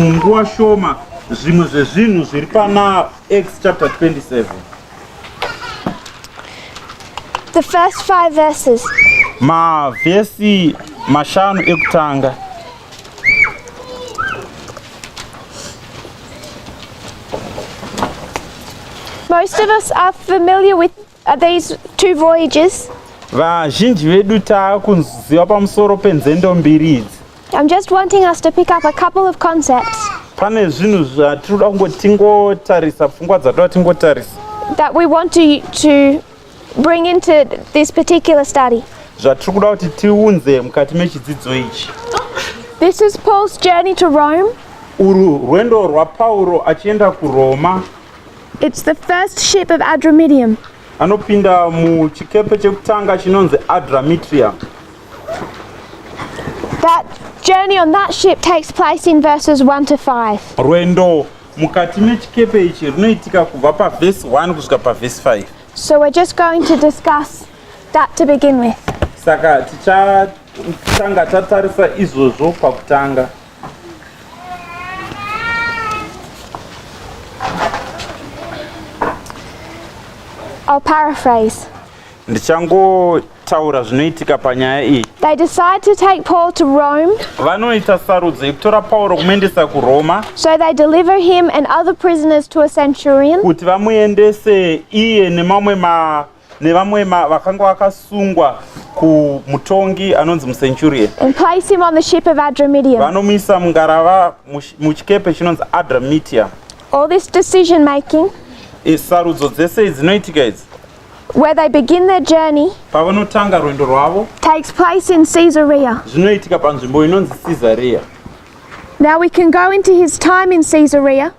munguva shoma zvimwe zvezvinhu zviri panaa acts chapter 27 the first five verses mavhesi mashanu ekutanga Most of us are familiar with Are these two voyages? Vazhinji vedu taakuziva pamusoro penzendo mbiri idzi. I'm just wanting us to pick up a couple of concepts. Pane zvinhu zvatinoda kungoti tingotarisa pfungwa dzatoda tingotarisa. That we want to to bring into this particular study. Zvatiri kuda kuti tiunze mukati mechidzidzo ichi. This is Paul's journey to Rome. Uru rwendo rwaPauro achienda kuRoma. It's the first ship of Adramidium. Anopinda muchikepe chekutanga chinonzi Adramitrium. That journey on that ship takes place in verses 1 to 5. Rwendo mukati mechikepe ichi runoitika kubva pavhesi 1 kusvika pavhesi 5. So we're just going to discuss that to begin with. Saka tichatanga tatarisa izvozvo pakutanga. I'll paraphrase. ndichangotaura zvinoitika panyaya iyi They decide to take Paul to Rome, vanoita sarudzo yekutora pauro kumuendesa kuroma so they deliver him and other prisoners to a centurion. kuti vamuendese iye nemamwe ma- nevamwe vakanga vakasungwa kumutongi anonzi mucenturian vanomisa mungarava muchikepe chinonzi adramitia all this decision making sarudzo dzese idzinoitika idzi where they begin their journey pavanotanga rwendo rwavo takes place in caesarea zvinoitika panzvimbo inonzi caesarea now we can go into his time in caesarea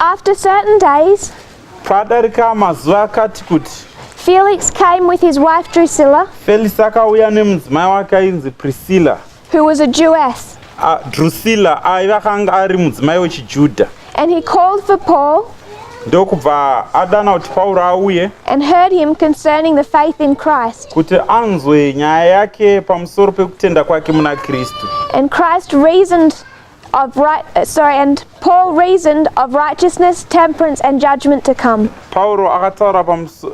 After certain days, padarika mazuva akati kuti Felix came with his wife Drusilla, Felix akauya nemudzimai wake ainzi Priscilla. who was a Jewess, A- Drusilla aiva akanga ari mudzimai wechiJudha and he called for Paul ndokubva adana kuti Pauro auye and heard him concerning the faith in Christ, kuti anzwe nyaya yake pamusoro pekutenda kwake muna Kristu. and Christ reasoned of right, uh, sorry, and Paul reasoned of righteousness, temperance, and judgment to come. Pauro akataura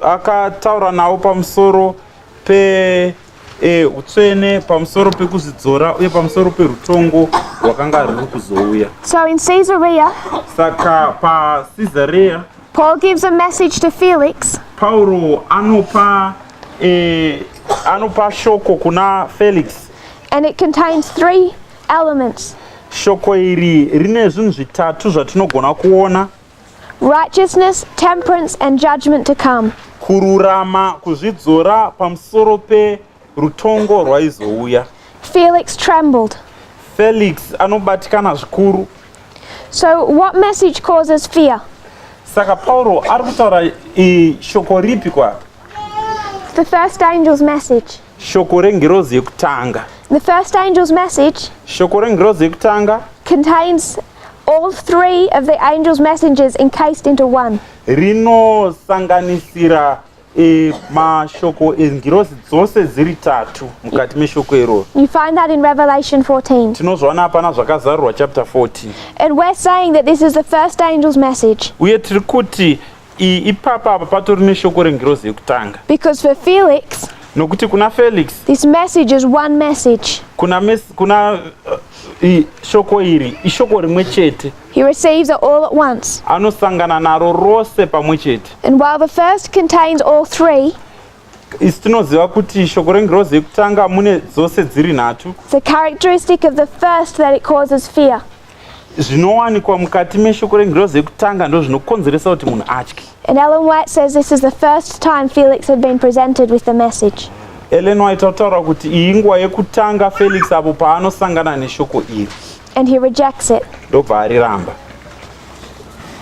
akataura nawo pamusoro pe eh, utsvene pamusoro pekuzvidzora uye pamusoro perutongo rwakanga ruri kuzouya. So in Caesarea, saka pa Caesarea, Paul gives a message to Felix. Pauro anopa eh, anopa shoko kuna Felix. And it contains three Elements. Shoko iri rine zvinhu zvitatu zvatinogona kuona. Righteousness, temperance and judgment to come. Kururama kuzvidzora pamusoro pe rutongo rwaizouya. Felix trembled. Felix anobatikana zvikuru. So what message causes fear? Saka Pauro ari kutaura shoko ripi kwa? The first angel's message. Shoko rengirozi yekutanga. The first angel's message. Shoko rengirozi yekutanga. Contains all three of the angel's messengers encased into one. Rinosanganisira e, mashoko engirozi dzose dziri tatu mukati meshoko iroro. You find that in Revelation 14. Tinozviona hapana zvakazarurwa chapter 14. And we're saying that this is the first angel's message. Uye tiri kuti iyi ipapa apa patori neshoko rengirozi yekutanga Because for Felix, nokuti kuna felix this message is one message. kuna, mes, kuna uh, i, shoko iri ishoko rimwe chete He receives it all at once. anosangana naro rose pamwe chete And while the first contains all three, isi tinoziva kuti shoko rengirozi yekutanga mune dzose dziri nhatu the characteristic of the first that it causes fear. zvinowanikwa mukati meshoko rengirozi yekutanga ndo zvinokonzeresa kuti munhu atye And Ellen White says this is the first time Felix had been presented with the message. ellen white tautaura kuti iyi nguva yekutanga felix apo paanosangana neshoko iri And he rejects it. ndobva ariramba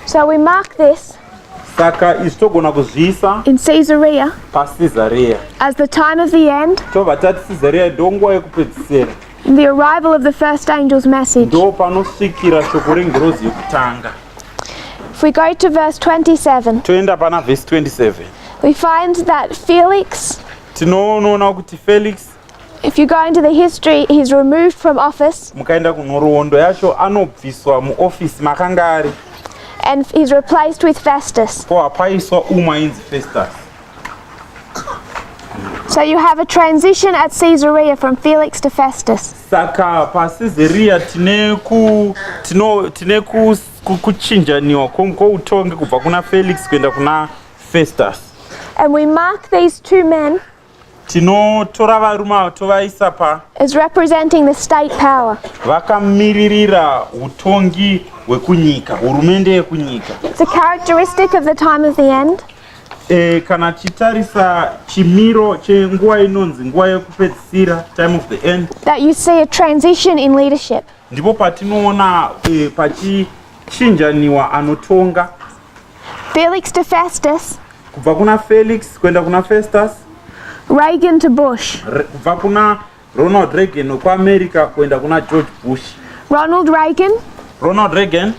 So we mark this saka izvi togona kuzviisa in Caesarea pacesareya as the time of the end tobva tati cesareya ndonguva yekupedzisira In the arrival of the first angel's message. Ndo panosvikira shoko rengirozi yekutanga. If we go to verse 27. Toenda pana verse 27. We find that Felix. Tinoona kuti Felix. If you go into the history, he's removed from office. Mukaenda kunhoroondo yacho anobviswa muoffice makanga ari. And he's replaced with Festus. Ko apaiswa umwe ainzi Festus. So you have a transition at Caesarea from Felix to Festus. Saka pa Caesarea tine ku tino tine ku kuchinjaniwa kwoutongi kubva kuna Felix kuenda kuna Festus. And we mark these two men tinotora varume ava tovaisa pa is representing the state power vakamiririra utongi hwekunyika hurumende yekunyika it's a characteristic of the time of the end E, kana tichitarisa chimiro chenguva inonzi nguva yekupedzisira time of the end that you see a transition in leadership ndipo patinoona e, pachichinjaniwa anotonga Felix to Festus kubva kuna Felix kuenda kuna Festus Reagan to Bush kubva kuna Ronald Reagan wekuAmerica kuenda kuna George Bush Ronald Reagan Ronald Reagan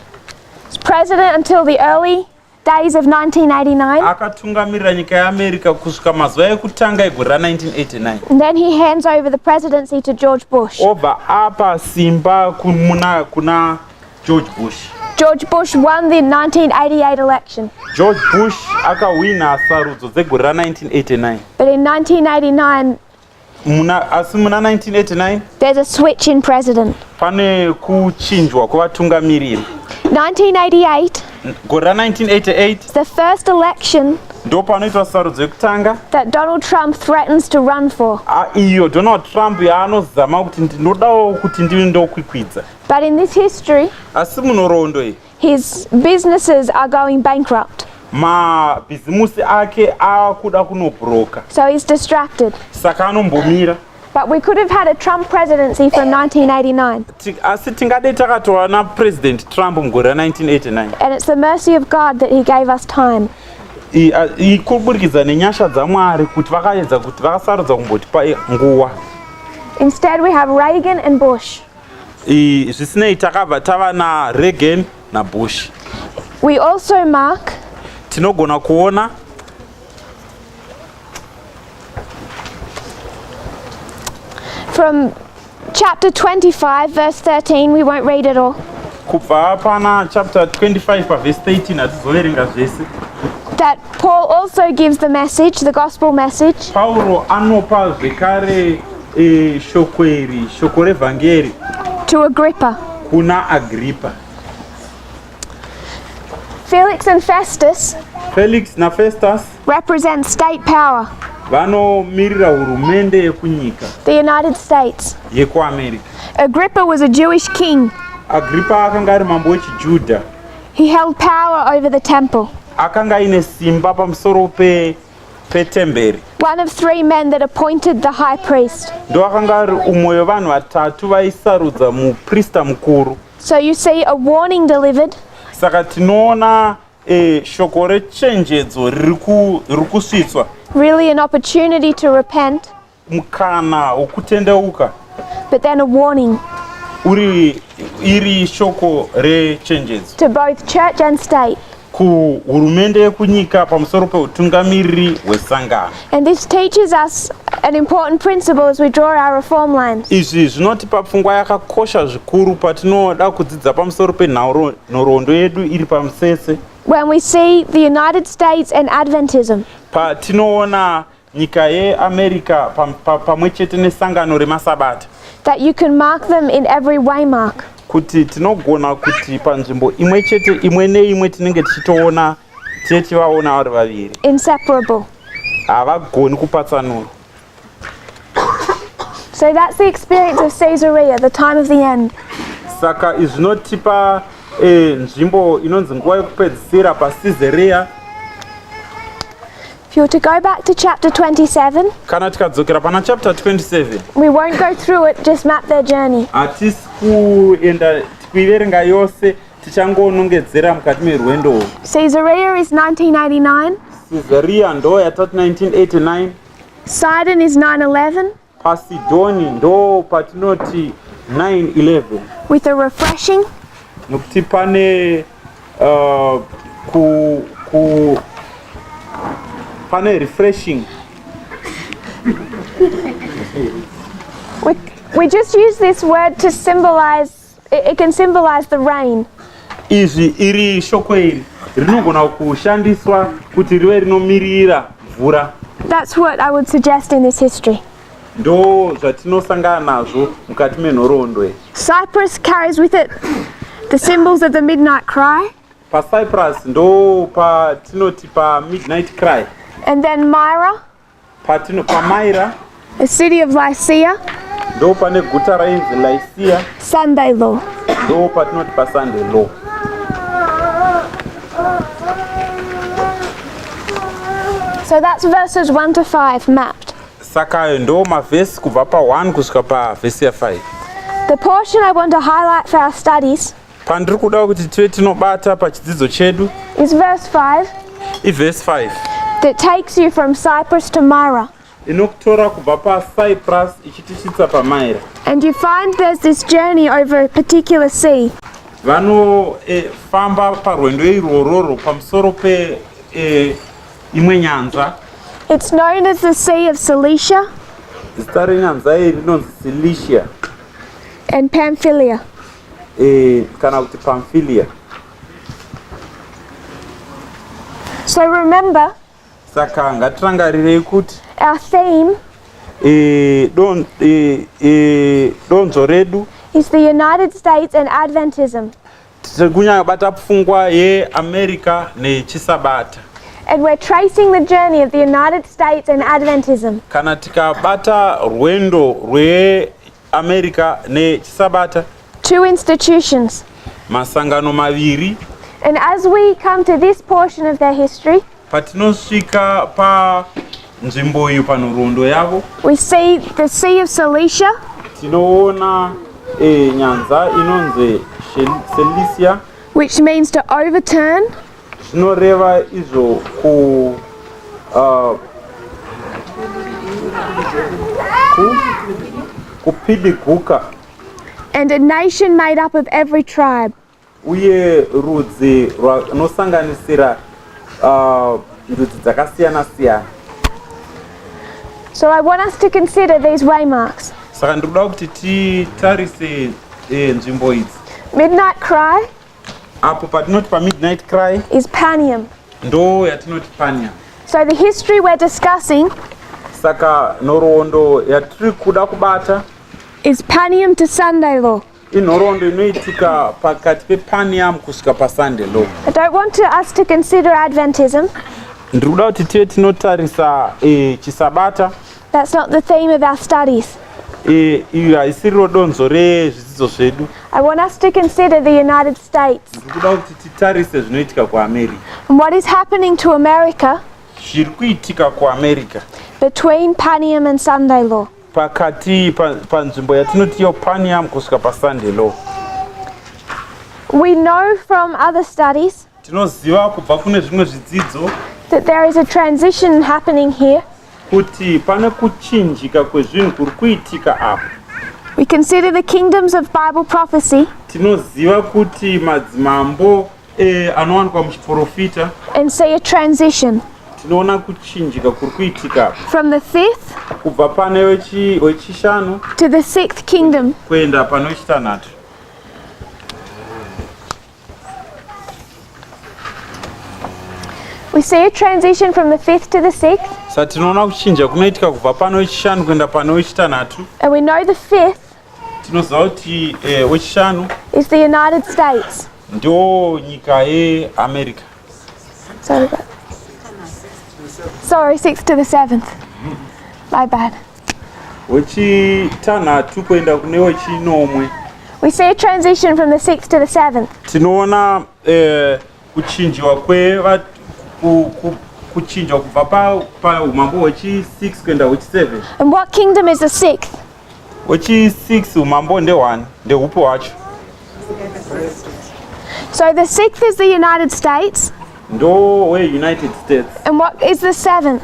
president until the early Days of 1989. Akatungamirira nyika yeAmerica kusvika mazuva ekutanga egore ra 1989. And then he hands over the presidency to George Bush. Obva apa simba kuna kuna George Bush. George Bush won the 1988 election. George Bush akahwina sarudzo dzegore ra 1989. But in 1989 muna asi muna 1989 there's a switch in president pane kuchinjwa kwevatungamiriri 1988 gore ra 1988 the first election ndo panoitwa sarudzo yekutanga that donald trump threatens to run for ah, iyo donald trump yaanozama kuti ndinodawo kuti ndive ndokwikwidza but in this history asi munhoroondo iyi His businesses are going bankrupt. Mabhizimusi ake akuda kunobroka. So he's distracted. Saka anombomira. But we could have had a Trump presidency from 1989. Asi tingadei takatova na President Trump mugore ra 1989. And it's the mercy of God that he gave us time. Kuburikidza nenyasha dzaMwari kuti vakaedza kuti vakasarudza kumbotipa nguva. Instead we have Reagan and Bush. zvisinei takabva tava naregan nabush we also remark tinogona kuona from chapter 25 verse 13 we won't read it all kubva pana chapter 25 paverse 13 hatizoverenga zvese that paul also gives the message the gospel message pauro anopa zvekare E, shoko iri shoko revhangeri To Agrippa. kuna agripa Felix and Festus felix nafestus represent state power, vanomirira hurumende yekunyika the United States. yekuamerica Agrippa was a Jewish king. agripa akanga ari mambo wechijudha He held power over the temple. akanga aine simba pamusoro pe petemberi One of three men that appointed the high priest. ndoakanga ari umwe wevanhu vatatu vaisarudza muprista mukuru So you see a warning delivered, saka tinoona eh, shoko rechenjedzo riri ku- riri kusvitswa really an opportunity to repent, mukana wokutendeuka. But then a warning. Uri iri shoko rechenjedzo. To both church and state. kuhurumende yekunyika pamusoro peutungamiriri hwesangano and this teaches us an important principle as we draw our reform lines izvi zvinotipa pfungwa yakakosha zvikuru patinoda kudzidza pamusoro penhoroondo yedu iri pamusese when we see the united states and adventism patinoona nyika yeamerica pamwe chete nesangano remasabata that you can mark them in every way mark kuti tinogona kuti panzvimbo imwe chete imwe neimwe tinenge tichitoona tichivaona vari vaviri inseparable havagoni kupatsanura so that's the experience of caesarea the time of the end saka izvi zvinotipa eh, nzvimbo inonzi nguva yekupedzisira pacaesarea If you were to go back to chapter 27, kana tikadzokera pana chapter 27 we won't go through it, just map their journey. hatisi kuenda kuiverenga yose tichangonongedzera mukati merwendo urwu Caesarea is 1989, caesarea ndo yatati 1989 Sidon is 911, Pasidhoni ndo patinoti 911. With a refreshing. Nokuti pane uh, ku, ku pane refreshing. We, we just use this word to symbolize It, it can symbolize the rain. Izvi iri shoko iri rinogona kushandiswa kuti rive rinomirira mvura. That's what I would suggest in this history. Ndo zvatinosangana nazvo mukati menhoroondo iyi. Cyprus carries with it the symbols of the midnight cry. Pa Cyprus ndo patinoti pa midnight cry. And then Myra. Patino pamaira. The city of Lycia. Ndo pane guta rainzi Lycia. Sunday law. Ndo patinoti pa Sunday law. So that's verses 1 to 5 mapped. Saka ayo ndo mavhesi kubva pa 1 kusvika pa vhesi ya 5. The portion I want to highlight for our studies. Pandiri kuda kuti tive tinobata pachidzidzo chedu. Is verse 5. I verse 5. That takes you from Cyprus to Myra. inokutora kubva pacyprus ichitisvitsa pamaira and you find there's this journey over a particular sea vanofamba eh, parwendo irwororo pamusoro pe eh, imwe nyanza it's known as the sea of cilicia zita renyanza iyi rinonzi cilicia and pamphylia eh, kana kuti Pamphylia. So remember. Saka ngatirangarirei kuti our theme eh, don, eh, eh, donzo redu is the United States and Adventism. Tiri kunyanya bata pfungwa yeAmerica nechisabata. And we're tracing the journey of the United States and Adventism. Kana tikabata rwendo rwe America nechiSabata. Two institutions. Masangano maviri. And as we come to this portion of their history, patinosvika pa nzvimbo iyo panhoroondo yavo, we see the Sea of Cilicia, tinoona eh, nyanza inonzi Cilicia, which means to overturn, Zvinoreva izvo ku uh, ku kupidiguka. And a nation made up of every tribe. Uye rudzi rwanosanganisira uh, ndudzi dzakasiyana siyana. So I want us to consider these waymarks. Saka ndikuda kuti titarise eh, nzvimbo idzi. Midnight cry. apo patinoti pamidnight cry is panium ndo yatinoti panium so the history we're discussing saka nhoroondo yatiri kuda kubata is panium to sunday law inhoroondo inoitika pakati pepanium kusvika pasunday law i don't want to us to consider adventism ndiri kuda kuti tive tinotarisa eh, chisabata That's not the theme of our studies. Eh, iri haisiriro donzo rezvidzidzo zvedu. I want us to consider the United States. Ndikuda kuti titarise zvinoitika kuAmerica. And what is happening to America? Zviri kuitika kuAmerica. Between Panium and Sunday law. Pakati panzvimbo yatinoti yo Panium kusvika paSunday law. We know from other studies Tinoziva kubva kune zvimwe zvidzidzo that there is a transition happening here. Kuti pane kuchinjika kwezvinhu kuri kuitika apa. We consider the kingdoms of Bible prophecy. Tinoziva kuti madzimambo eh, anowanikwa muchiprofita. And say a transition. Tinoona kuchinjika kuri kuitika. From the fifth. Kubva pane wechishanu. To the sixth kingdom. Kuenda pane wechitanhatu. We see a transition from the fifth to the sixth. Sa tinoona kuchinja kunoitika kubva pano wechishanu kuenda pano wechitanhatu. And we know the fifth. Tinoziva kuti eh, wechishanu. Is the United States. Ndo nyika yeAmerica. Sorry about that. Sorry, sixth to the seventh. My bad. wechitanhatu kuenda kune wechinomwe we see a transition from the sixth to the seventh tinoona eh, kuchinjiwa kweva kuchinjwa kubva paumambo hwechi6 kuenda hwechi7 and what kingdom is the sixth wechi6 umambo ndehwani ndehupi hwacho so the sixth is the united states ndo weunited states and what is the seventh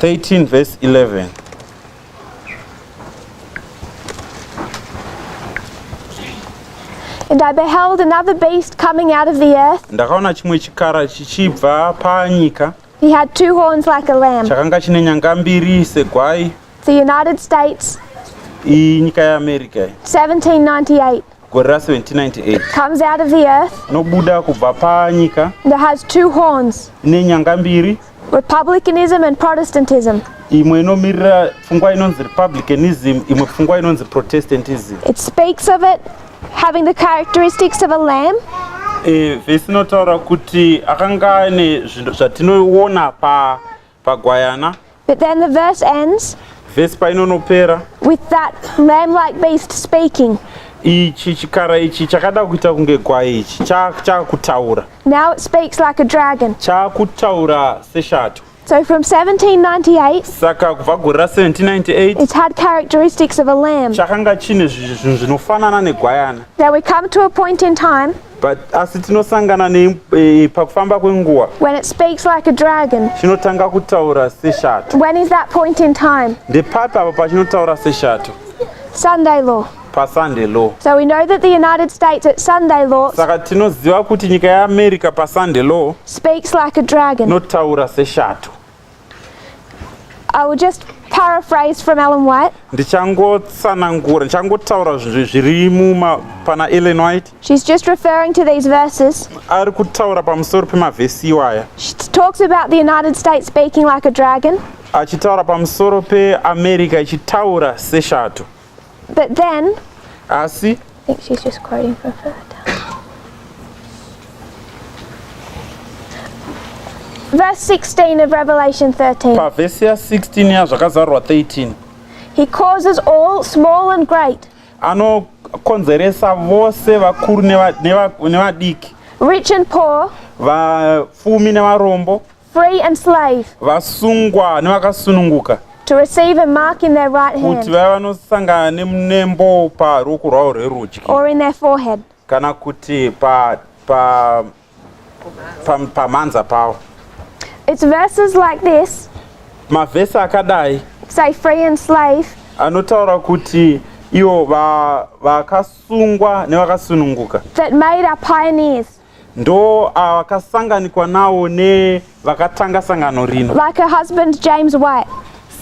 13 verse 11 And I beheld another beast coming out of the earth. ndakaona chimwe chikara chichibva panyika He had two horns like a lamb. chakanga chine nyanga mbiri segwai The United States, iyi nyika yeamerica iyi 1798. gore ra 1798 comes out of the earth nobuda kubva panyika that has two horns ine nyanga mbiri republicanism and protestantism imwe inomirira pfungwa inonzi republicanism imwe pfungwa inonzi protestantism it speaks of it having the characteristics of a lamb e, vhesi inotaura kuti akanga ane zvinhu zvatinoona pa pagwayana But then the verse ends vhesi painonopera with that lamb like beast speaking. ichi chikara ichi chakada kuita kunge gwai ichi cha- chaakutaura Now it speaks like a dragon. chaakutaura seshato So from 1798, saka kubva gore ra 1798 it had characteristics of a lamb. chakanga chine zvi- zvinhu zvinofanana negwayana Now we come to a point in time But asi tinosangana nei eh, pakufamba kwenguva? When it speaks like a dragon. Chinotanga kutaura seshato. When is that point in time? Ndepapi apo pachinotaura seshato? Sunday law. pasunday law so we know that the united states at sunday law saka tinoziva kuti nyika yeamerica pasunday law speaks like a dragon inotaura seshato I will just paraphrase from Ellen White. Ndichangotsanangura, ndichangotaura zviri muma pana Ellen White. She's just referring to these verses. Ari kutaura pamusoro pemavhesi iwaya. She talks about the United States baking like a dragon. Achitaura pamusoro peAmerica ichitaura seshato. But then Asi I think she's just quoting from Philadelphia. Verse 16 of Revelation 13. pavhesi ya 16 ya zvakazarurwa 13 He causes all, small and great, anokonzeresa vose vakuru neva- neva- nevadiki rich and poor, vapfumi nevarombo free and slave, vasungwa nevakasununguka to receive a mark in their right kuti hand vaya vanosangana nem- nembo paruoko rwavo rwerudyi or in their forehead, kana kuti pa- pa- pa- pamhanza pavo it's verses like this mavhesi akadai say, free and slave, anotaura kuti ivo va- vakasungwa nevakasununguka that made our pioneers, ndo akasanganikwa nawo nevakatanga sangano rino like her husband James White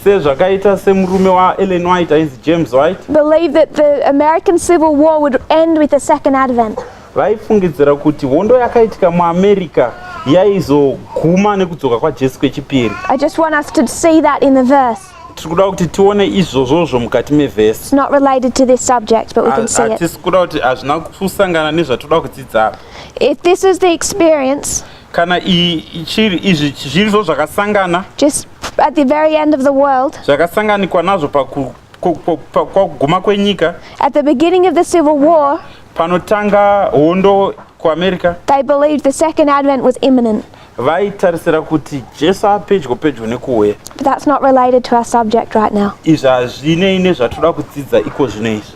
sezvakaita semurume waEllen White ainzi James White believe that the American Civil War would end with the second advent vaifungidzira kuti hondo yakaitika muAmerica yaizoguma nekudzoka kwaJesu kwechipiri I just want us to see that in the verse tiri kuda kuti tione izvozvozvo mukati mevhesi hatisi kuda kuti hazvina kusangana nezvatoda kudzidza apa if this is the experience kana ichiri izvi zviri zvo zvakasangana just at the very end of the world zvakasanganikwa nazvo pakuguma kwenyika at the beginning of the civil war panotanga hondo kuamerica they believed the second advent was imminent vaitarisira kuti jesu apedyo pedyo nekuuya But that's not related to our subject right now. izvi hazvinei nezvatinoda kudzidza iko zvino izvi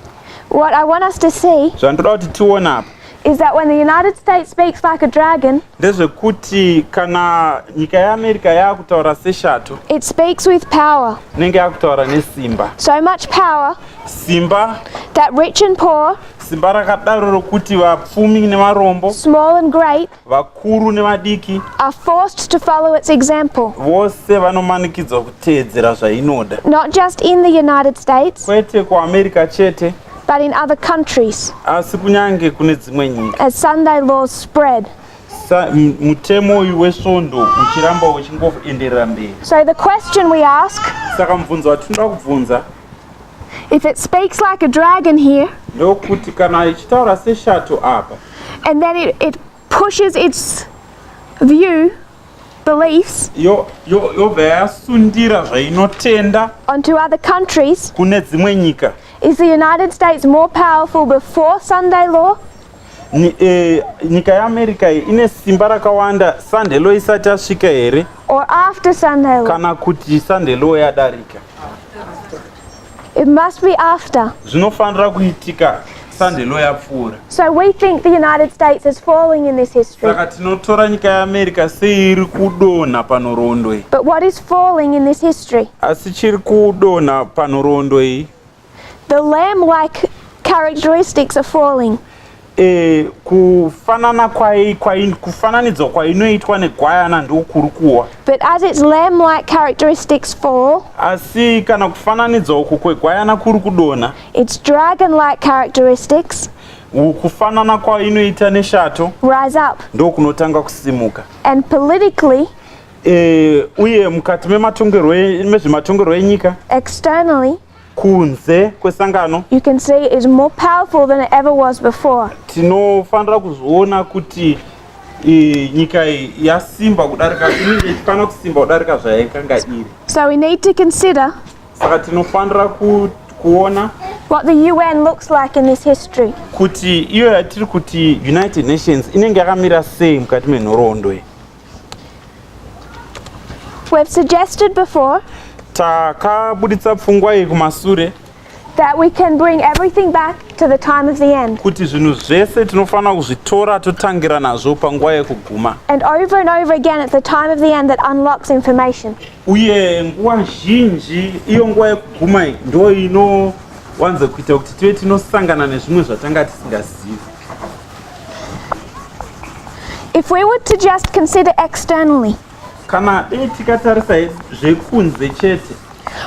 What I want us to see zvandinoda kuti tione apa is that when the United States speaks like a dragon, ndezvekuti kana nyika yeamerica yaakutaura seshato it speaks with power. inenge yaakutaura nesimba So much power simba that rich and poor, simba rakadaro rokuti vapfumi nevarombo small and great, vakuru nevadiki are forced to follow its example vose vanomanikidzwa kuteedzera zvainoda not just in the united states kwete kuamerica chete but in other countries asi kunyange kune dzimwe nyika as sunday laws spread mutemo uyu wesvondo uchiramba uchingoenderera mberi so the question we ask saka mubvunzo watinoda kubvunza If it speaks like a dragon here. Ndokuti kana ichitaura seshato apa. And then it, it pushes its view beliefs yo yo yobva yasundira zvainotenda onto other countries kune dzimwe nyika is the united states more powerful before sunday law Ni, eh, nyika yeamerica iyi ine simba rakawanda sandhelo isati asvika here or after Sandhelo. kana kuti sandhelo yadarika It must be after. zvinofanira kuitika sandhelo yapfuura So we think the United States is falling in this history. saka tinotora nyika yeamerica seiri kudonha panhoroondo iyi But what is falling in this history? asi chiri kudonha panhoroondo iyi The lamb like characteristics are falling. Eh, kufanana kwai kwai kufananidzwa kwainoitwa negwayana ndokuri kuwa. But as its lamb like characteristics fall. Asi kana kufananidzwa uku kwegwayana kuri kudona. Its dragon like characteristics. Kufanana kwainoita neshato. Rise up. Ndokunotanga kusimuka. And politically Eh, uye mukati mematongerwo e, mezvematongerwo enyika externally kunze kwesangano you can say is more powerful than it ever was before tinofanira kuzviona kuti nyika yasimba kudarika inenge ichifanira kusimba kudarika zvayaikanga iri so we need to consider saka tinofanira kuona what the UN looks like in this history. Kuti iyo yatiri kuti United Nations inenge yakamira sei mukati menhoroondo iyi. We have suggested before takabuditsa pfungwa iyi kumasure that we can bring everything back to the time of the end. kuti zvinhu zvese tinofanira kuzvitora totangira nazvo panguva yekuguma And over and over again, it's the time of the end that unlocks information. uye nguva zhinji iyo nguva yekuguma iyi ndo inowanza kuita kuti tive tinosangana nezvimwe zvatanga tisingazivi If we were to just consider externally. Kana dei tikatarisa zvekunze chete.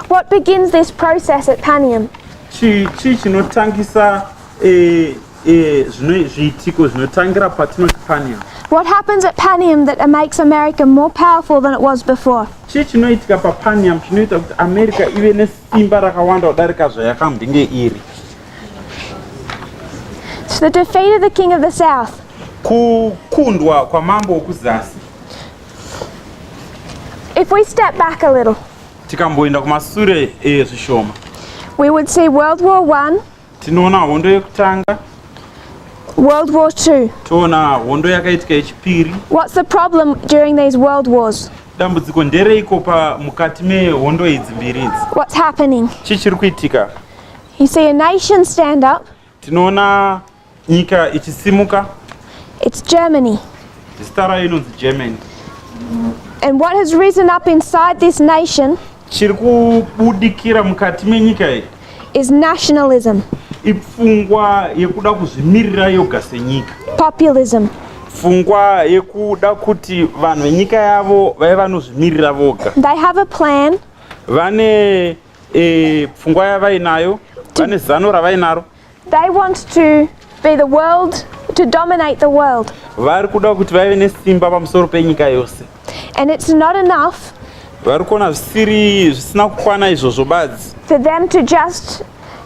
What begins this process at Panium? Chi chi chinotangisa eh eh zvino zviitiko zvinotangira patinoti Panium. What happens at Panium that makes America more powerful than it was before? Chi chinoitika pa Panium chinoita kuti America ive nesimba rakawanda kudarika zvayakambinge iri. To the defeat of the king of the south. Kukundwa kwa mambo wokuzasi. If we step back a little. Tikamboenda kumasure eh zvishoma. We would see World War 1. Tinoona hondo yekutanga. World War II. Toona hondo yakaitika yechipiri. What's the problem during these world wars? Dambudziko ndereiko pa mukati mehondo idzi mbiri idzi? What's happening? Chii chiri kuitika? You see a nation stand up. Tinoona nyika ichisimuka. It's Germany. Zita rayo inonzi Germany. And what has risen up inside this nation chiri kubudikira mukati menyika iyi is nationalism. Ipfungwa yekuda kuzvimirira yoga senyika. Populism. Pfungwa yekuda kuti vanhu venyika yavo vave vanozvimirira voga. They have a plan. Vane Eh, pfungwa yavainayo vane zano ravainaro. They want to be the world to dominate the world. Vari kuda kuti vave nesimba pamusoro penyika yose. And it's not enough. Vari kuona zvisiri zvisina kukwana izvozvo badzi. For them to just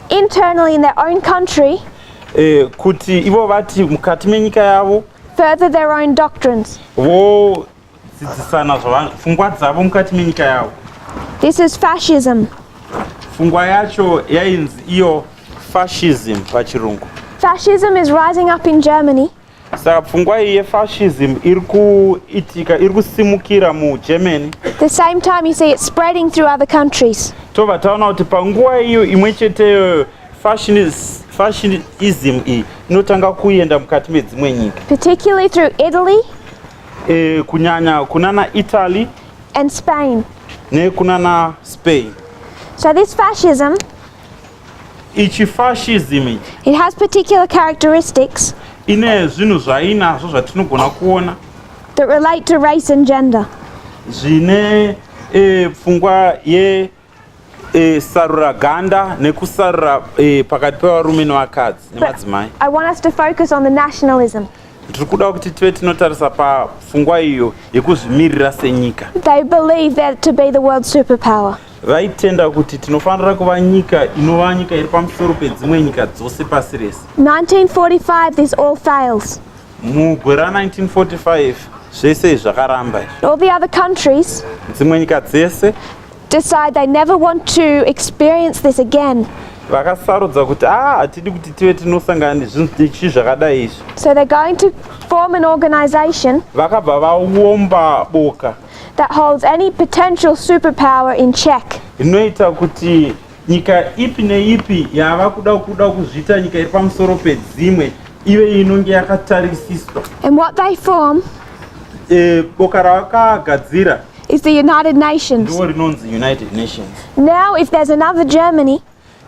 internally in their own country. Eh, kuti ivo vati mukati menyika yavo. Further their own doctrines. Vo dzidzisana zvavanhu pfungwa dzavo mukati menyika yavo this is fascism pfungwa yacho yainzi iyo fascism pachirungu fascism is rising up in germany saka pfungwa iyi yefascism iri kuitika iri kusimukira mugermany the same time you see it spreading through other countries tobva taona kuti panguva iyo imwe cheteyo fascism iyi inotanga kuenda mukati medzimwe nyika particularly through italy eh, kunyanya kunana Italy and Spain nekunana Spain so this fascism ichi fascism ichi it has particular characteristics ine zvinhu zvainazvo zvatinogona kuona that relate to race and gender zvine eh, pfungwa ye eh, sarura ganda nekusarura eh, pakati pevarume nevakadzi nemadzimai i want us to focus on the nationalism tiri kuda kuti tive tinotarisa pafungwa iyo yekuzvimirira senyika they believe that to be the world superpower vaitenda kuti tinofanira kuva nyika inova nyika iri pamusoro pedzimwe nyika dzose pasi rese 1945 this all fails mugore ra 1945 zvese zvakaramba izvi all the other countries dzimwe nyika dzese decide they never want to experience this again vakasarudza kuti ah hatidi kuti tive tinosangana nezvinhu zvakadai izvi so they're going to form an organization vakabva vaomba boka that holds any potential superpower in check inoita kuti Nyika ipi neipi yava kuda kuda kuzviita nyika iri pamusoro pedzimwe ive inonge yakatarisiswa. And what they form eh, boka ravakagadzira is the United Nations. Ndiwo rinonzi United Nations. Now if there's another Germany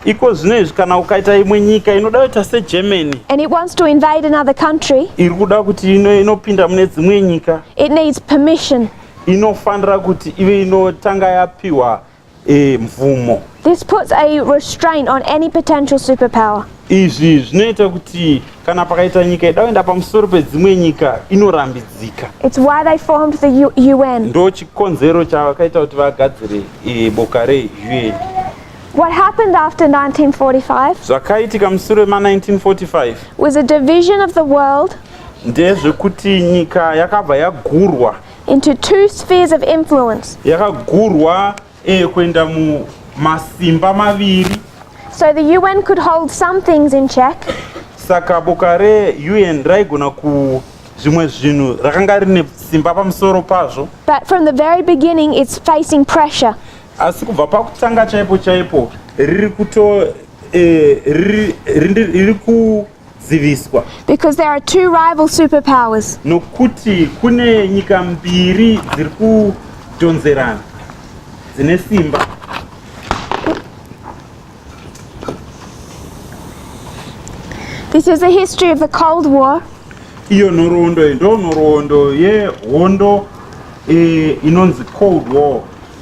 iko zvino izvi kana ukaita imwe nyika inoda kuita segermany and it wants to invade another country iri kuda kuti inopinda mune dzimwe nyika it needs permission inofanira kuti ive inotanga yapiwa e, mvumo. This puts a restraint on any potential superpower. Izvi zvinoita kuti kana pakaita nyika ida kuenda pamusoro pedzimwe nyika inorambidzika. It's why they formed the U UN. Ndo chikonzero chakaita kuti vagadzire e, boka re UN. What happened after 1945? Zvakaitika musure ma 1945 was a division of the world ndezvekuti nyika yakabva yagurwa into two spheres of influence yakagurwa eh, kuenda mumasimba maviri so the un could hold some things in check saka boka reun raigona ku zvimwe zvinhu rakanga rine simba pamusoro pazvo but from the very beginning it's facing pressure asi kubva pakutanga chaipo chaipo riri kuto eh, riri ku dziviswa because there are two rival superpowers nokuti kune nyika mbiri dziri kudhonzerana dzine simba This is a history of the Cold War. Iyo nhoroondo ndo nhoroondo yehondo eh, inonzi Cold War.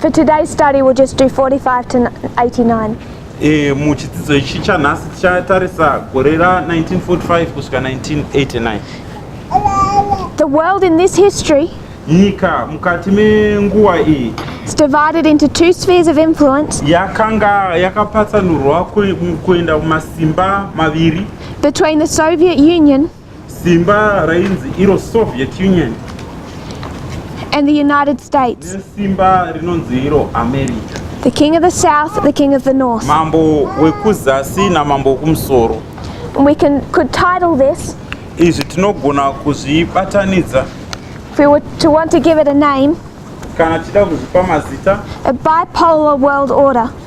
For today's study we'll just do 45 to 89. Eh, muchidzidzo ichi chanhasi tichatarisa gore ra 1945 kusvika 1989 The world in this history nyika mukati menguva iyi is divided into two spheres of influence yakanga yakapatsanurwa kue- kuenda kumasimba maviri between the Soviet Union Simba rainzi iro Soviet Union. And the United States. Simba rinonzi iro America. The king of the south, the king of the north. Mambo wekuzasi na mambo wekumusoro. And we can could title this. Izvi tinogona kuzvibatanidza. If we were to want to give it a name. Kana tida kuzvipa mazita. A bipolar world order.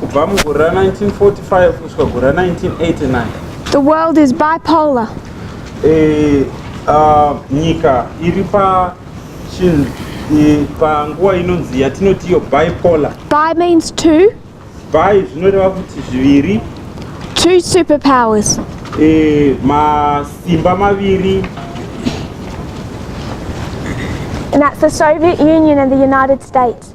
kubva mugore ra 1945 kusvika gore ra 1989 the world is bipolar eh, uh, nyika iri pa chinhu eh, panguva inonzi yatinoti iyo bipolar bi means two bi zvinoreva kuti zviviri two superpowers eh, masimba maviri And that's the Soviet Union and the United States.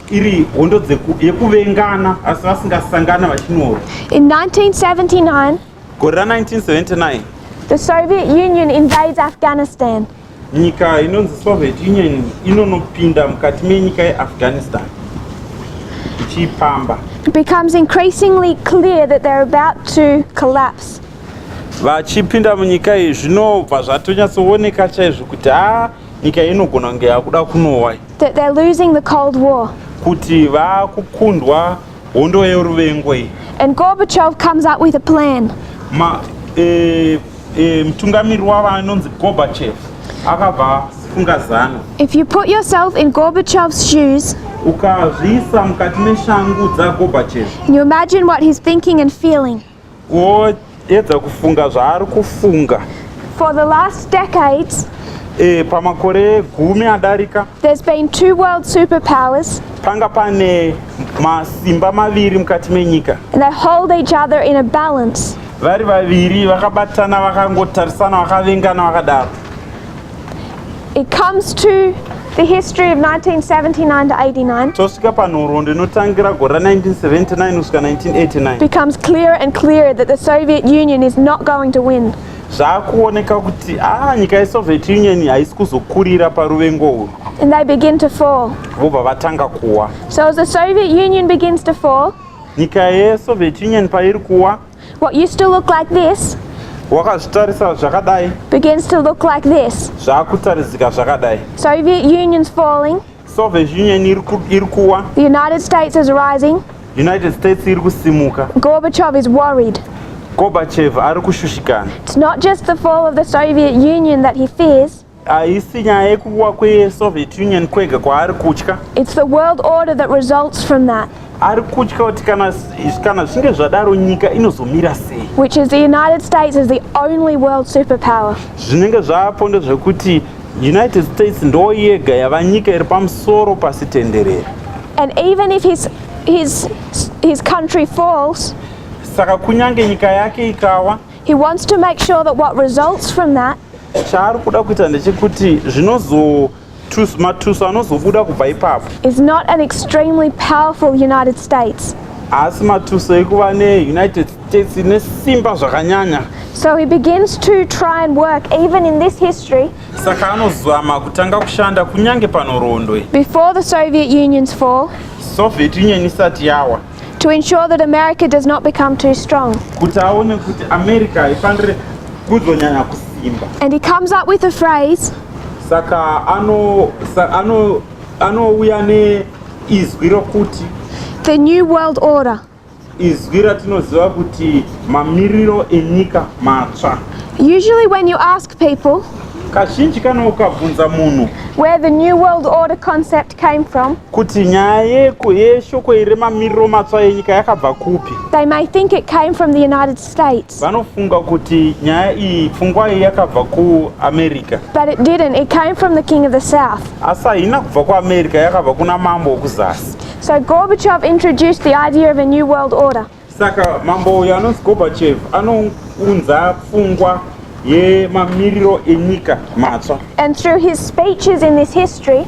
iri hondo dzeku- yekuvengana asi vasingasangana vachinyora In 1979, gore ra 1979 the Soviet Union invades Afghanistan. nyika inonzi soviet union inonopinda mukati menyika yeafghanistan ichiipamba It becomes increasingly clear that they're about to collapse. vachipinda munyika iyi zvinobva zvatonyatsooneka chaizvo kuti ha nyika inogona kunge yakuda kunowa that they're losing the cold war kuti vakukundwa hondo yeruvengo iyi and gorbachev comes up with a plan ma eh, eh, mutungamiri wavo anonzi gorbachev akabva funga zano if you put yourself in gorbachev's shoes ukazviisa mukati meshangu dzagorbachev you imagine what he's thinking and feeling woedza kufunga zvaari kufunga For the last decades, e, pamakore gumi adarika there's been two world superpowers, panga pane masimba maviri mukati menyika and they hold each other in a balance. vari vaviri vakabatana vakangotarisana vakavengana vakadaro It comes to the history of 1979 to 89 tosvika panhoroondo inotangira gore ra 1979 kusvika 1989 becomes clearer and clearer that the Soviet Union is not going to win. zvaakuoneka kuti ah nyika yesoviet union haisi kuzokurira paruvengo urwu And they begin to fall. vobva vatanga kuwa So as the Soviet Union begins to fall, nyika yesoviet union pairi kuwa What used to look like this wakazvitarisa zvakadai begins to look like this. zvakutaridzika zvakadai Soviet Union's falling, soviet union iri ku- iri kuwa the United States is rising, united states iri kusimuka Gorbachev is worried. gorbachev ari kushushikana It's not just the fall of the Soviet Union that he fears, haisi nyaya yekuwa kwesoviet union kwega kwaari kutya its the world order that results from that ari kutya kuti kana kana zvinge zvadaro nyika inozomira sei which is the united states is the only world superpower zvinenge zvaapo ndezvekuti united states ndo yega yava nyika iri pamusoro pasi tenderere and even if his, his, his country falls saka kunyange nyika yake ikawa He wants to make sure that what results from that chaari kuda kuita ndechekuti zvinozo matuso anozobuda kubva ipapo is not an extremely powerful United States. haasi matuso ekuva neunited states ine simba zvakanyanya So he begins to try and work, even in this history, saka anozama kutanga kushanda kunyange panhoroondo iyi before the Soviet Union's fall, soviet union isati yawa To ensure that America does not become too strong. Kuti aone kuti America haifanire kuzonyanya kusimba. And he comes up with a phrase. Saka ano ano anouya ne izwi rokuti the new world order. Izwi ratinoziva kuti mamiriro enyika matsva. Usually when you ask people kazhinji kana ukabvunza munhu where the new world order concept came from kuti nyaya yeko yeshoko iri mamiriro matsva yenyika yakabva kupi they may think it came from the united states vanofunga kuti nyaya iyi pfungwa iyi yakabva kuamerica but it didn't it came from the king of the south asi haina kubva kuamerica yakabva kuna mambo wokuzasi so gorbachev introduced the idea of a new world order Saka mambo uyu anonzi Gorbachev anounza pfungwa yemamiriro enyika matsva. And through his speeches in this history,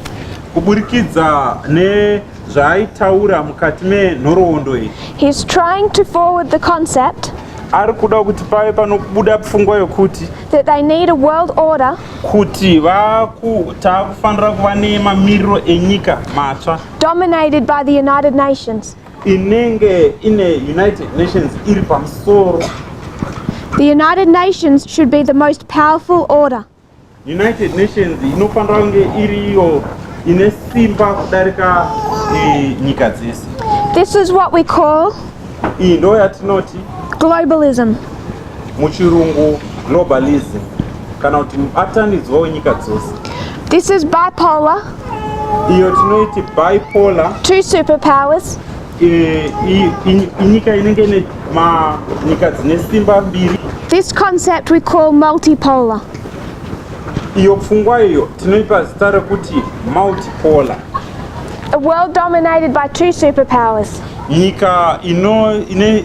kuburikidza nezvaaitaura mukati menhoroondo iyi, he's trying to forward the concept ari kuda kuti pave panobuda pfungwa yokuti that they need a world order kuti vaku- taakufanira kuva nemamiriro enyika matsva dominated by the United Nations. inenge ine united nations iri pamusoro the united nations should be the most powerful order united nations inofanira kunge iri iyo ine simba kudarika e, nyika dzese this is what we call iyi ndo yatinoti globalism muchirungu globalism kana kuti mubatanidzwa wenyika dzose this is bipolar iyo tinoiti bipolar two superpowers eh, inyika inenge ine nyika dzine simba mbiri this concept we call multipolar iyo pfungwa iyo tinoipa zita rekuti multipolar a world dominated by two superpowers nyika ino ine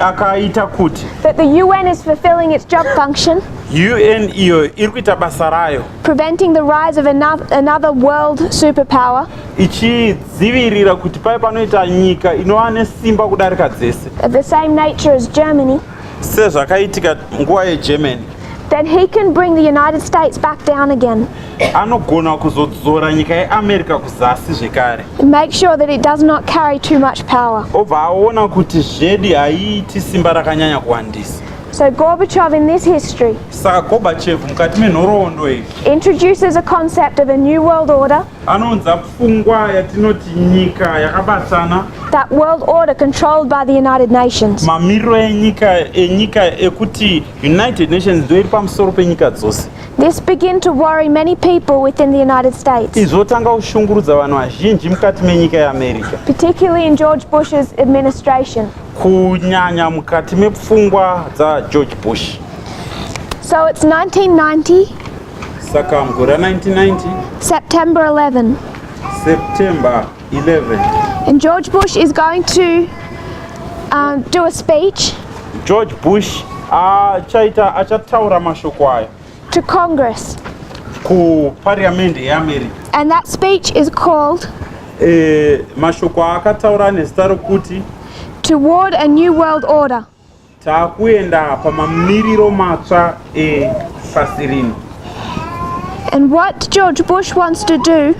akaita kuti that the UN is fulfilling its job function UN iyo iri kuita basa rayo preventing the rise of another, another world superpower ichidzivirira kuti paye panoita nyika inova nesimba kudarika dzese of the same nature as Germany sezvakaitika nguva yeGermany Then he can bring the United States back down again. Anogona kuzodzora nyika yeAmerica kuzasi zvekare. Make sure that it does not carry too much power. Obva aona kuti zvedi haiiti simba rakanyanya kuwandisa. So Gorbachev in this history Saka Gorbachev mukati menhoroondo iyi introduces a concept of a new world order anounza pfungwa yatinoti nyika yakabatana that world order controlled by the United Nations. mamiriro enyika enyika ekuti United Nations ndoiri pamusoro penyika dzose. This begin to worry many people within the United States. Izvotanga kushungurudza vanhu vazhinji mukati menyika yeAmerica. Particularly in George Bush's administration. Kunyanya mukati mepfungwa dzaGeorge Bush. So it's 1990. Saka mugore 1990. September 11. September 11. And George Bush is going to uh, do a speech. George Bush achaita achataura mashoko aya. To Congress. Ku Parliament yeAmerica. And that speech is called. Eh, mashoko akataura nezita rokuti. Toward a new world order. Takuenda pamamiriro matsva epasi rino. And what George Bush wants to do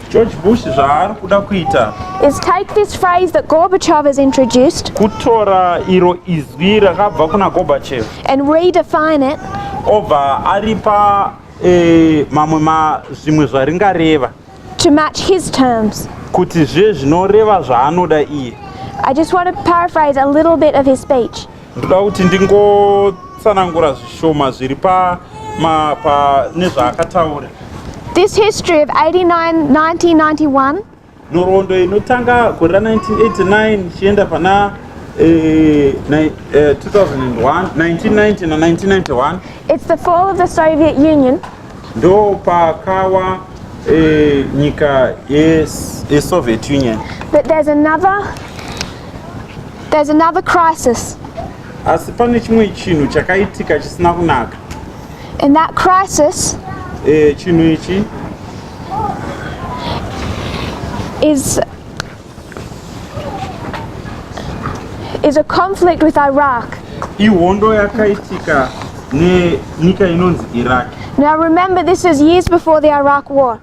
George Bush zvaari kuda kuita is take this phrase that Gorbachev has introduced kutora iro izwi rakabva kuna Gorbachev and redefine it obva aripa eh, mamwe ma zvimwe zvaringareva To match his terms. Kuti zviye zvinoreva zvaanoda iye. I just want to paraphrase a little bit of his speech. Ndoda kuti ndingotsanangura zvishoma zviri pa ma pa nezvaakataura. This history of 89 1991 nhoroondo inotanga gore ra 1989 ichienda pana eh, ni- eh, 2001 1990 na 1991 It's the fall of the Soviet Union. ndopakawa eh, nyika yesoviet union But there's another, there's another crisis. asi pane chimwe chinhu chakaitika chisina kunaka In that crisis Eh, chinhu ichi is is a conflict with Iraq. Ihondo yakaitika nenyika inonzi Iraq. Now remember this is years before the Iraq war.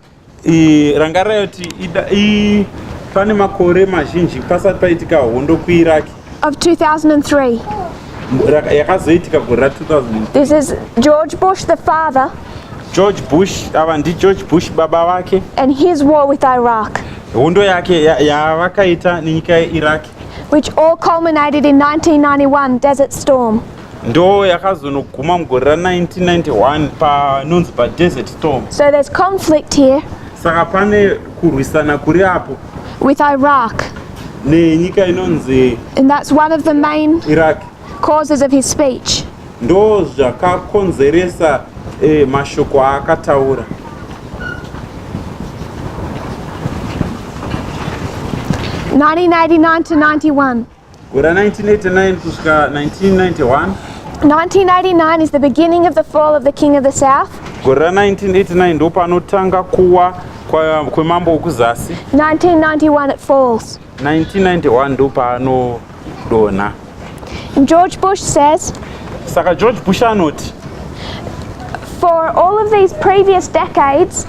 Rangarai kuti pane makore mazhinji pasati paitika hondo kuIraq. of 2003. yakazoitika gore ra 2000 This is George Bush, the father, george bush ava ndigeorge bush baba vake and his war with Iraq, hondo yake ya- yavakaita nenyika yeiraq which all culminated in 1991 Desert Storm. ndo yakazonoguma mugore ra 1991 panonzi padesert storm So there's conflict here. saka pane kurwisana kuri apo with Iraq. nenyika inonzi And that's one of the main iraq causes of his speech. ndo zvakakonzeresa eh, mashoko aakataura Nineteen eighty nine to ninety one. Gora 1989 kusvika 1991. 1989 is the beginning of the fall of the king of the south. Gora 1989 ndo panotanga kuwa kwemambo wekuzasi. 1991 it falls. 1991 ndo paanodonha. George Bush says. Saka George Bush anoti. For all of these previous decades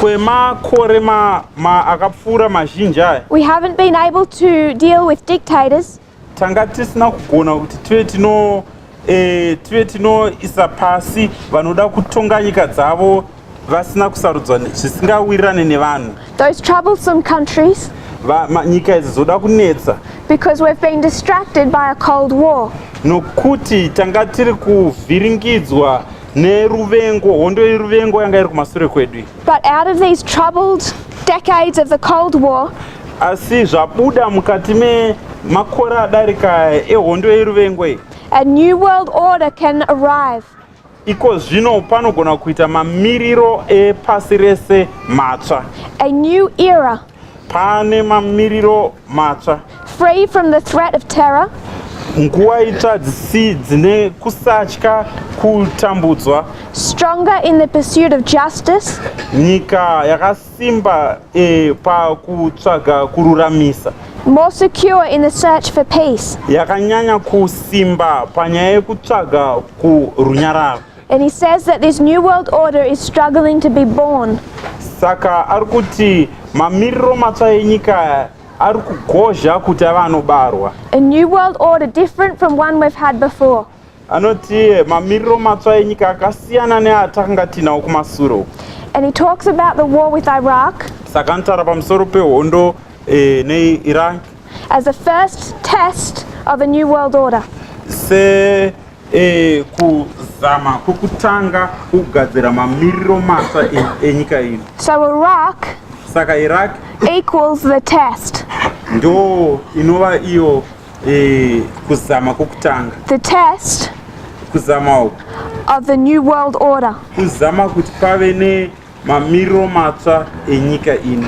kwemakore ma, ma akapfuura mazhinji aya we haven't been able to deal with dictators tanga tisina kugona kuti tive tino eh, tive tinoisa pasi vanoda kutonga nyika dzavo vasina kusarudzwa ne- zvisingawirirane nevanhu those troublesome countries Va- ma- nyika idzi dzoda kunetsa because we've been distracted by a Cold War. nokuti tanga tiri kuvhiringidzwa neruvengo hondo yeruvengo yanga iri kumasure kwedu but out of these troubled decades of the cold war asi zvabuda mukati memakore adarika ehondo yeruvengo iyi a new world order can arrive iko zvino panogona kuita mamiriro epasi rese matsva a new era Pane mamiriro matsva. Free from the threat of terror. Nguva itsva dzisi dzine kusatya kutambudzwa. Stronger in the pursuit of justice. Nyika yakasimba e, pakutsvaga kururamisa. More secure in the search for peace. Yakanyanya kusimba panyaya yekutsvaga kurunyararo. And he says that this new world order is struggling to be born. Saka ari kuti mamiriro matsva enyika ari kugozha kuti ava anobarwa. A new world order different from one we've had before. Anoti mamiriro matsva enyika akasiyana neatanga tinawo kumasure uku. And he talks about the war with Iraq. Saka anotaura pamusoro pehondo eh, neIraq. As the first test of a new world order. Se E, kuzama kwekutanga kugadzira mamiriro matsva e, enyika ino so iraq saka iraq equals the test ndo inova iyo e, kuzama kwekutanga the test kuzama uku of the new world order kuzama kuti pave ne Mamiriro matsva enyika ino.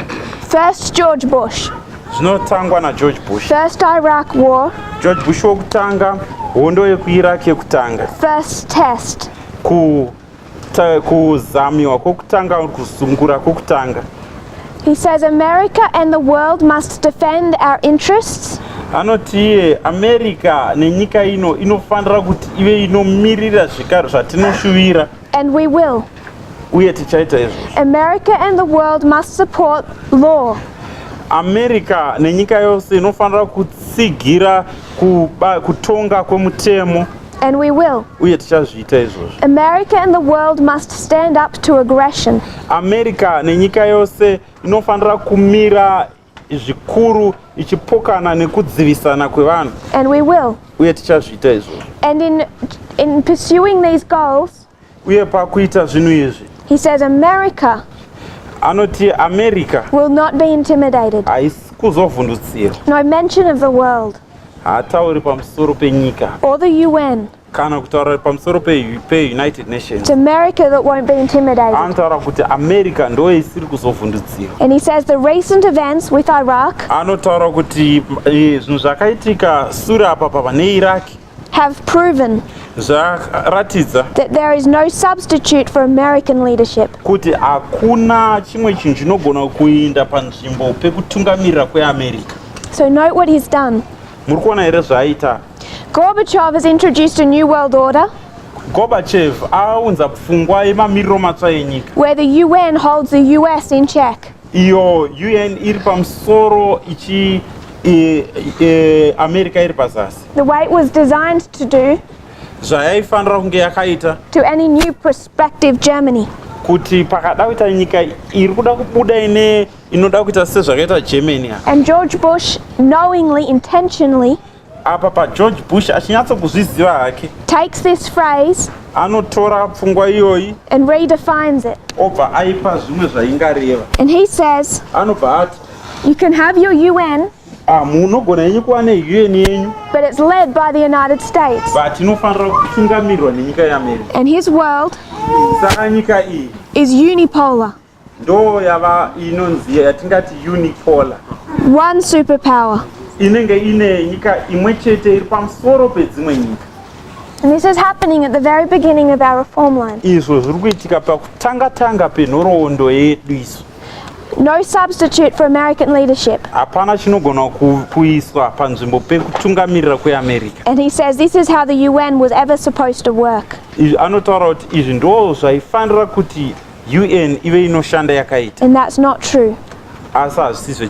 First George Bush. Zvinotangwa naGeorge Bush. First Iraq War. George Bush wokutanga, hondo yekuIraq yekutanga. First test. Ku kuzamiwa kwokutanga kuzungura kwokutanga. He says America and the world must defend our interests. anoti iye america nenyika ino inofanira kuti ive inomirira zvikaro zvatinoshuvira and we will uye tichaita izvozvo America and the world must support law America nenyika yose inofanira kutsigira kuba, kutonga kwemutemo and we will uye tichazviita izvozvo America and the world must stand up to aggression America nenyika yose inofanira kumira zvikuru ichipokana nekudzivisana kwevanhu and we will uye tichazviita izvozvo and in in pursuing these goals uye pakuita zvinhu izvi he says america anoti america will not be intimidated haisi kuzovhundutsira no mention of the world haatauri pamusoro penyika or the un kana kutaura pamusoro peunited nations america that won't be intimidated anotaura kuti america ndo isiri kuzovhundutsira and he says the recent events with iraq anotaura kuti eh, zvinhu zvakaitika sure apa pava neiraq have proven zvaratidza that there is no substitute for american leadership kuti hakuna chimwe chinhu chinogona kuinda panzvimbo pekutungamirira kweamerica so note what he's done muri kuona here zvaaita Gorbachev has introduced a new world order. Gorbachev aunza pfungwa yemamiriro matsva enyika. Where the UN holds the US in check. Iyo UN iri pamusoro ichi e, e, America iri pazasi. The way it was designed to do. Zvayaifanira kunge yakaita. To any new prospective Germany. Kuti pakada kuita nyika iri kuda kubuda ine inoda kuita sezvakaita Germany. And George Bush knowingly intentionally apa pageorge bush achinyatsokuzviziva hake takes this phrase anotora pfungwa iyoyi and redefines it obva aipa zvimwe zvaingareva and he says anobva ati you can have your un ah, munogona yenyu kuva neun yenyu but it's led by the united states but inofanira kutungamirwa nenyika yeamerica and his world saka nyika iyi is unipolar ndo yava inonzi yatingati unipolar one super power inenge ine nyika imwe chete iri pamusoro pedzimwe nyika And this is happening at the very beginning of our reform line. Izvo zviri kuitika pakutanga tanga penhoroondo yedu isu. No substitute for American leadership. Hapana chinogona kuiswa panzvimbo pekutungamirira kweAmerica. And he says this is how the UN was ever supposed to work. Anotaura kuti izvi ndizvo zvaifanira kuti UN ive inoshanda yakaita. And that's not true. Asi hazvisizve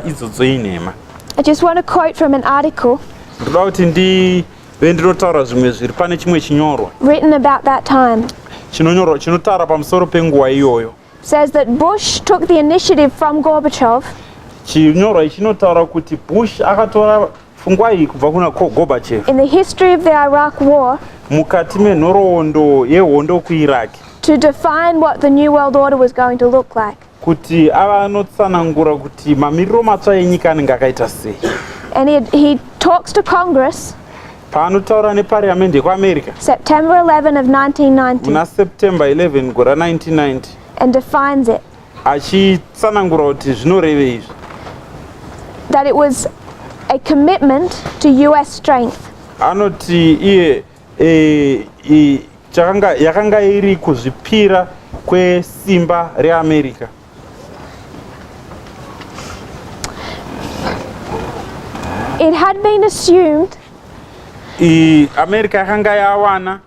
idzodzo inhema. I just want to quote from an article. Ndoda kuti ndive ndinotaura zvimwe zviri pane chimwe chinyorwa. Written about that time. Chinonyorwa chinotaura pamusoro penguva iyoyo. Says that Bush took the initiative from Gorbachev. Chinyorwa ichinotaura kuti Bush akatora Pfungwai kubva kuna Ko Gorbachev. In the history of the Iraq war, mukati menhoroondo yehondo kuIraq, to define what the new world order was going to look like, kuti ava anotsanangura kuti mamiriro matsva enyika anenge akaita sei. and he, he talks to Congress Paanotaura neparliament yekuAmerica September 11 of 1990 muna September 11 gore 1990 and defines it. achitsanangura kuti zvinorevei izvi that it was a commitment to us strength anoti iye e, e, chakanga yakanga iri kuzvipira kwesimba reamerica it had been assumed I, america yakanga yawana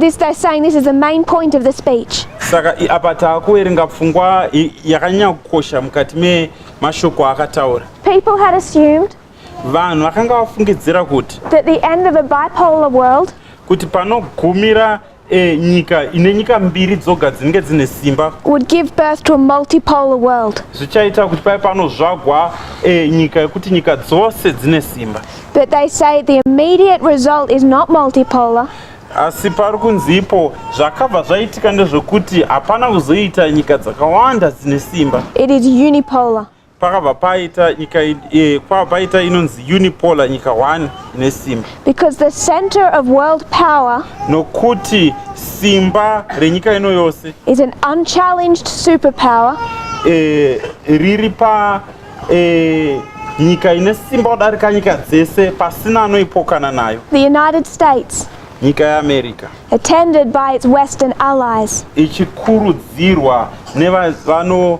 This they're saying this is the main point of the speech. Saka apa taakuverenga pfungwa yakanyanya kukosha mukati memashoko akataura. People had assumed vanhu vakanga vafungidzira kuti that the end of a bipolar world kuti panogumira eh, nyika ine nyika mbiri dzoga dzinenge dzine simba would give birth to a multipolar world zvichaita kuti pave panozvagwa eh, nyika yekuti nyika dzose dzine simba But they say the immediate result is not multipolar. asi pari kunzi ipo zvakabva zvaitika ndezvekuti hapana kuzoita nyika dzakawanda dzine simba It is unipolar. pakabva paita nyika i- eh, kwabva paita inonzi unipolar nyika 1 ine simba Because the center of world power nokuti simba renyika ino yose is an unchallenged superpower eh, riri pa Eh, nyika ine simba kudarika nyika dzese pasina anoipokana nayo. The United States. Nyika yeAmerica. Attended by its western allies. Ichikurudzirwa nevano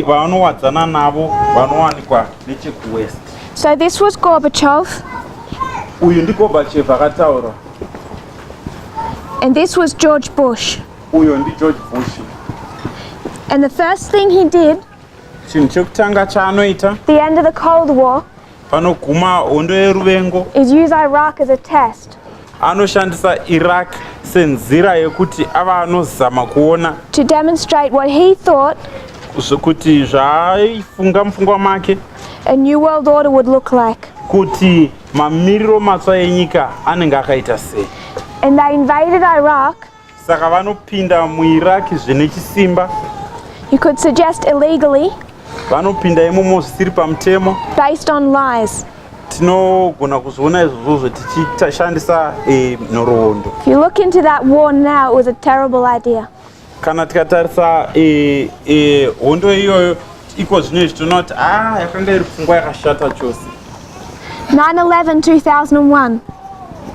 vanowadzana navo vanowanikwa nechekuwest. So this was Gorbachev. Uyu ndi Gorbachev akataura. And this was George Bush. Uyo ndi George Bush. And the first thing he did chinhu chekutanga chaanoita the end of the cold war panoguma hondo yeruvengo is use iraq as a test anoshandisa iraq senzira yekuti ava anozama kuona to demonstrate what he thought kuti zvaaifunga mupfungwa make a new world order would look like kuti mamiriro matsva enyika anenge akaita sei and they invaded iraq saka vanopinda muiraq zvine chisimba you could suggest illegally vanopinda imomo zvisiri pamutemo based on lies tinogona kuzviona izvozvozvo tichishandisa eh, nhoroondo if you look into that war now it was a terrible idea kana tikatarisa eh, eh, hondo iyoyo iko zvino izvi tinoona kuti a ah, yakanga iri pfungwa yakashata chose 911 2001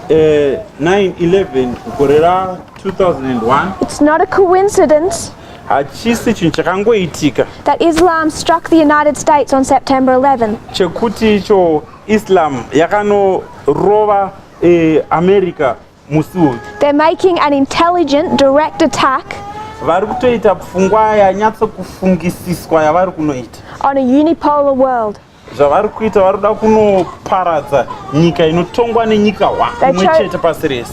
eh, 911 gore ra 2001 it's not a coincidence hachisi chinhu chakangoitika that islam struck the united states on september 11 chekuti icho islam yakanorova eh, america musi uyu they're making an intelligent direct attack vari kutoita pfungwa yanyatsokufungisiswa yavari kunoita on a unipolar world zvavari kuita vari kuda kunoparadza nyika inotongwa nenyika hwa imwe chete pasi rese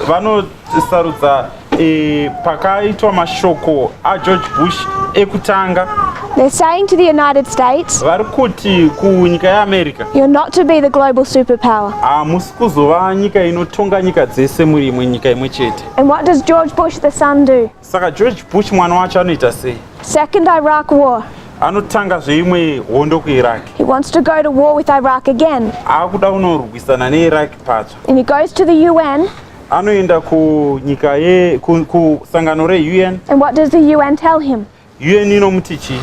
vanosarudza e, pakaitwa mashoko ageorge bush ekutanga They're saying to the United States, vari kuti kunyika yeamerica you're not to be the global superpower. hamusi ah, kuzova nyika inotonga nyika dzese muri imwe nyika imwe chete And what does George Bush the son do? Saka George Bush mwana wacho anoita sei? Second Iraq war. Anotanga zveimwe hondo kuIraq. He wants to go to war with Iraq again. Akuda kunorwisana neIraq patsva. And he goes to the UN. Anoenda kunyika ye kusangano reUN. And what does the UN tell him? UN inomuti chii?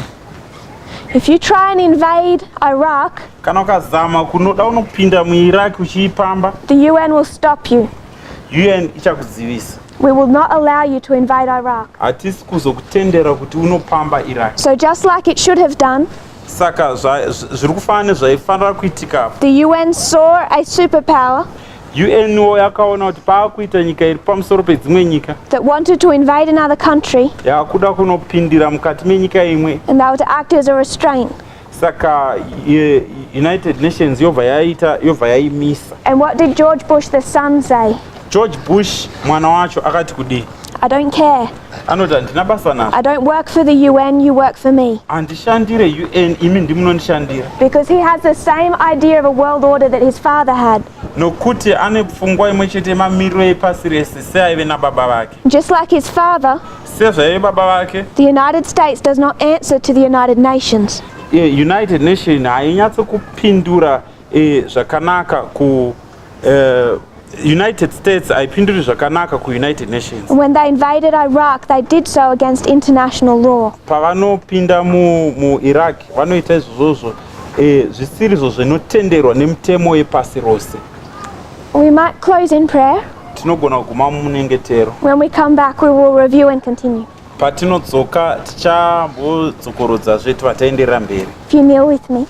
If you try and invade Iraq, kana ukazama kunoda unopinda muIraq uchiipamba, the UN will stop you. UN ichakuzivisa. We will not allow you to invade Iraq. Hatisi kuzokutendera kuti unopamba Iraq. So just like it should have done, saka zviri kufanira nezvaifanira kuitika the UN saw a superpower UNO yakaona kuti paakuita nyika iri pamusoro pedzimwe nyika that wanted to invade another country yakuda kunopindira mukati menyika imwe and that would act as a restraint saka ye- united nations yobva yaita yobva yaimisa and what did george bush the son say george bush mwana wacho akati kudii i don't care anoti handina basa nazvo I don't work for the UN, you work for me. handishandire un imi ndimunondishandira Because he has the same idea of a world order that his father had. nokuti ane pfungwa imwe chete yemamiriro epasi rese seaive nababa vake Just like his father, sezvaive baba vake the United States does not answer to the United Nations. eh, united nation hainyatsokupindura eh, zvakanaka ku Uh, United States haipinduri zvakanaka kuUnited Nations. When they invaded Iraq, they did so against international law. Pavanopinda mu, mu Iraq vanoita izvozvo eh, zvisiri izvo zvinotenderwa nemutemo yepasi rose. We might close in prayer. Tinogona kuguma munyengetero. When we come back we will review and continue. Patinodzoka tichambodzokorodza zve tibataenderera mberi. If you kneel with me.